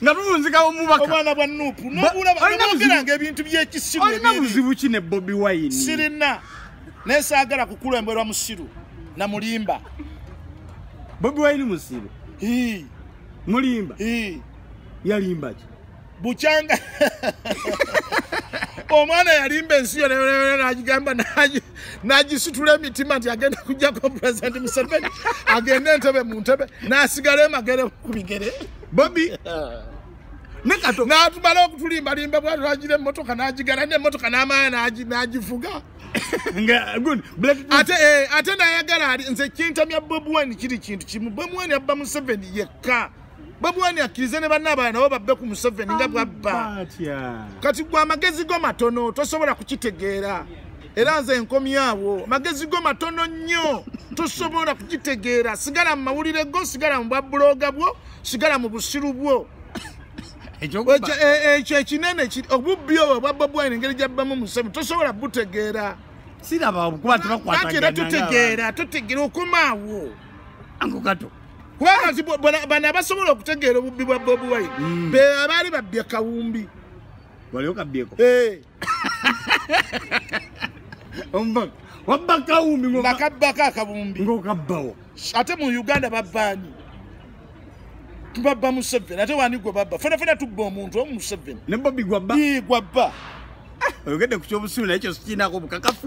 nga tuvunzika omubaka omwana bwa nupu nobulabaogeranga ebintu byekisiru olina buzibu ki ne bobi wine sirina naye saagala kukulemberwa musiru na mulimba bobi wine musiru mulimba yalimba ki bukyanga omwana yalimba ensi yo nagigamba naye nagisitula emitima nti agenda kujjako president museveni agende entebe mu ntebe nasigala emagere ku bigere bobi natumala okutulimbalimba bwatulagire emotoka nagigala nemotoka namaya nagifuga eh, ate nayagala ali nze kintamya bobi wine kiri kintu kimu bobi wine abba museveni yekka babuwani akkirize ne banna abalala nabo babbe ku museveni nga bwabba kati gwe amagezi go matono tosobola kukitegeera era nze nkomyawo magezi go matono nnyo tosobola kukitegeera sigala mu mawulire go sigala mu bwabuloga bwo sigala mu busiru bwo ekyo e, e, ekinene obubbi obwo bwa bobuwani engeri gyabbamu museveni tosobola butegeera siraba kuba tebakwatagana era tutegeera tutegeera okomaawo angogato kubanga nti bano abasobola okutegeera obubbi bwa bobi wine mm. be abaali babbya kawumbi waliwo kabyeko eh. wabba kawumbi nakabbako akabumbi ngokabbawo ate mu uganda babbaani tubabba museveni ate wani gwe babba fenafena tubba omuntu omu museveni nebobigwabba gwabba oyogedde ku kyobusuulu naye kyo sikiinaako obukakafu